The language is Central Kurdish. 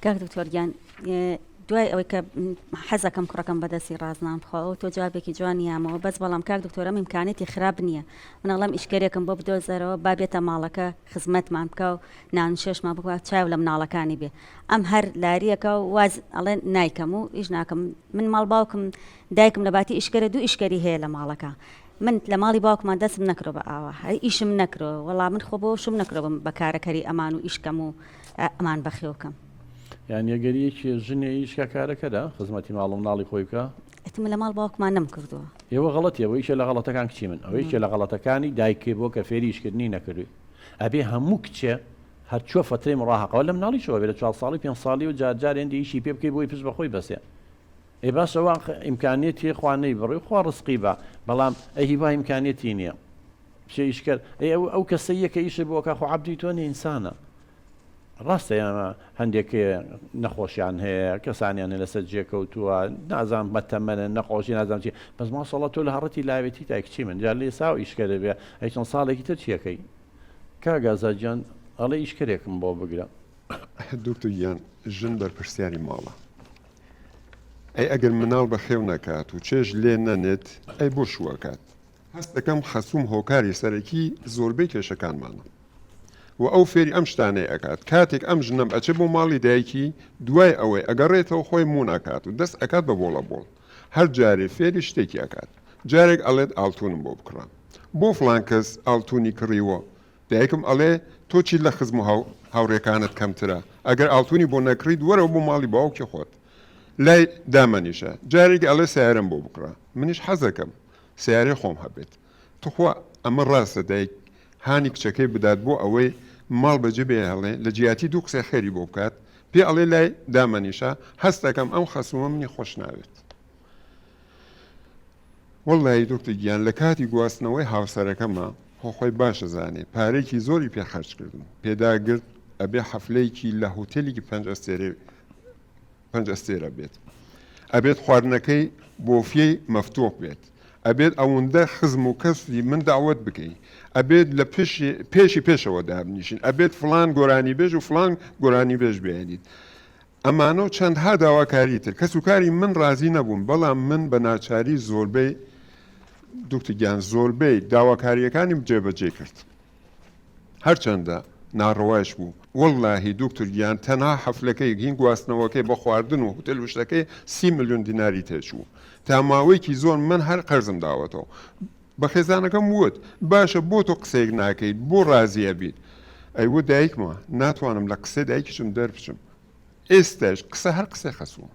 کاک دکتۆر گیان دوای ئەوەی کە حەزەکەم کوڕەکەم بەدەستی ڕازنان بخواوە تۆ جوابێکی جوان یامەوە بەس بەڵام کاک دکتۆرە ئیمکانێتی خراپ نییە منەڵم ئیشکەرێکم بۆ بدۆزەرەوە با بێتە ماڵەکە خزمەتمان بکە و نانشێشمان بکە چاو لە مناڵەکانی بێ ئەم هەر لاریەکە و واز ئەڵێ نایکەم و ئیش ناکەم من ماڵ باوکم دایکم لە باتی ئیشکەرە دوو ئیشکەری هەیە لە ماڵەکە من لە ماڵی باوکمان دەستم نەکرۆ بە ئاوا هەر ئیشم نەکرۆ وەڵام من خۆ بۆ شم نەکرۆبم بە کارەکەری ئەمان و ئیشکەم و ئەمان بەخێوکەم یان یەگەریەکی ژنێ هیچ کاکارەکەدا خزمەتی ماڵم ناڵی خۆی بکە ئەتم لە ماڵ باوکمان نم کردووە ئێوە غڵەتی ئەوە یکە لە غڵەتەکان کچی من ئەوە یکە لە غڵەتەکانی دایکێ بۆ کە فێریشکردنی نەکردووی ئەبێ هەموو کچێ هەرچوە فترەی مڕاهقەوە لە مناڵیشەوە بێ لە چوار ساڵی پێ ساڵی و جارجار هێندێکی پێ بکەی بۆی پشت بەخۆی بەسێ ئەی باس ئەوە ئاخە ئیمکانیەتی هەیە خوا نەیبڕێ خوا ڕزقی با بەڵام ئەی هیوا ئیمکانیەتی نییە بچێ ئیشکەر ئەی ئەو ئەو کەسەیە کە ئیشە بۆکە خۆ عبدی تۆ نە ئینسانە ڕاستە یانە هەندێک نەخۆشیان هەیە کەسانیان لەسەر جێکەوتووە نازان بەتەمەە نەخۆشی نازان چی بەس ماسەڵە تۆ لە هەڕەتی لاوێتی تا کچی من جار لێ ساو ئیشکەرە بێ ئەی چەند ساڵێکی تر چیەکەی کاگازاجان ئەڵێ ئیشکەرێکم بۆ بگرە دکتۆر گیان ژن بەرپرسیاری ماڵە ئەی ئەگەر مناڵ بەخێو نەکات و چێژ لێ نەنێت ئەی بۆ شوو ئەکات؟ هەست دەکەم خەسووم هۆکاری سەرەکی زۆربەی کێشەکانمانە و ئەو فێری ئەم شتانەی ئەکات کاتێک ئەم ژنەم ئەچێ بۆ ماڵی دایکی دوای ئەوەی ئەگەڕێتەوە خۆی مون ئەکات و دەست ئەکات بە بۆڵە بۆڵ هەر جارێ فێری شتێکی ئەکات جارێک ئەڵێت ئاڵتونم بۆ بکڕە بۆ فڵان کەس ئاڵتونی کڕیوە دایکم ئەڵێ تۆ چیت لە خزم و هاوڕێکانت کەمترە، ئەگەر ئاڵتونی بۆ نەکڕیت وەرەوە بۆ ماڵی باوکی خۆت لای دامەنیشە، جارێکی ئەڵێ سەیارەم بۆ بکڕە، منیش حەزەکەم سەیارەی خۆم هەبێت، توخوا ئەمە ڕاستە دایک هانی کچەکەی بدات بۆ ئەوەی ماڵ بەجێ بهێڵێ، لە جیاتی دوو قسەی خێری بۆ بکات، پێ ئەڵێ لای دامەنیشە، هەستەکەم ئەم خەسومە منی خۆشناوێت. وەڵلەهی دکتر گیان لە کاتی گواستنەوەی هاوسەرەکەما خۆ خۆی باش ئەزانێ پارەیەکی زۆری پێ خەرج کردم پێداگرت ئەبێ حەفلەیەکی لە هوتێلیکی پەنج ئەستێرەی پەنج ئەستێرە بێت ئەبێت خواردنەکەی بۆفیەی مەفتوح بێت ئەبێت ئەوەندە خزم و کەسی من داوت بکەی ئەبێت لە پێشی پێشی پێشەوە دابنیشین ئەبێت فلان گۆرانی بێژ و فلان گۆرانی بێژ بێنیت ئەمانە و چەندها داواکاری تر کەس و کاری من ڕازی نەبوون بەڵام من بە ناچاری زۆربەی دوکتور گیان زۆربەی داواکارییەکانیم جێبەجێ کرد هەرچەندە ناڕەوایش بوو واللهی دوکتور گیان تەنها حەفلەکەی گین گواستنەوەکەی بە خواردن و هوتێل وشتەکەی سی ملیۆن دیناری تێچوو تا ماوەیەکی زۆر من هەر قەرزم داوەتەوە بە خێزانەکەم وت، باشە بۆ تۆ قسەیەک ناکەیت، بۆ ڕازی ئەبیت؟ ئەیوت دایکمە، ناتوانم لە قسەی دایکیشم دەربچم. ئێستەش قسە هەر قسەی خەسووم.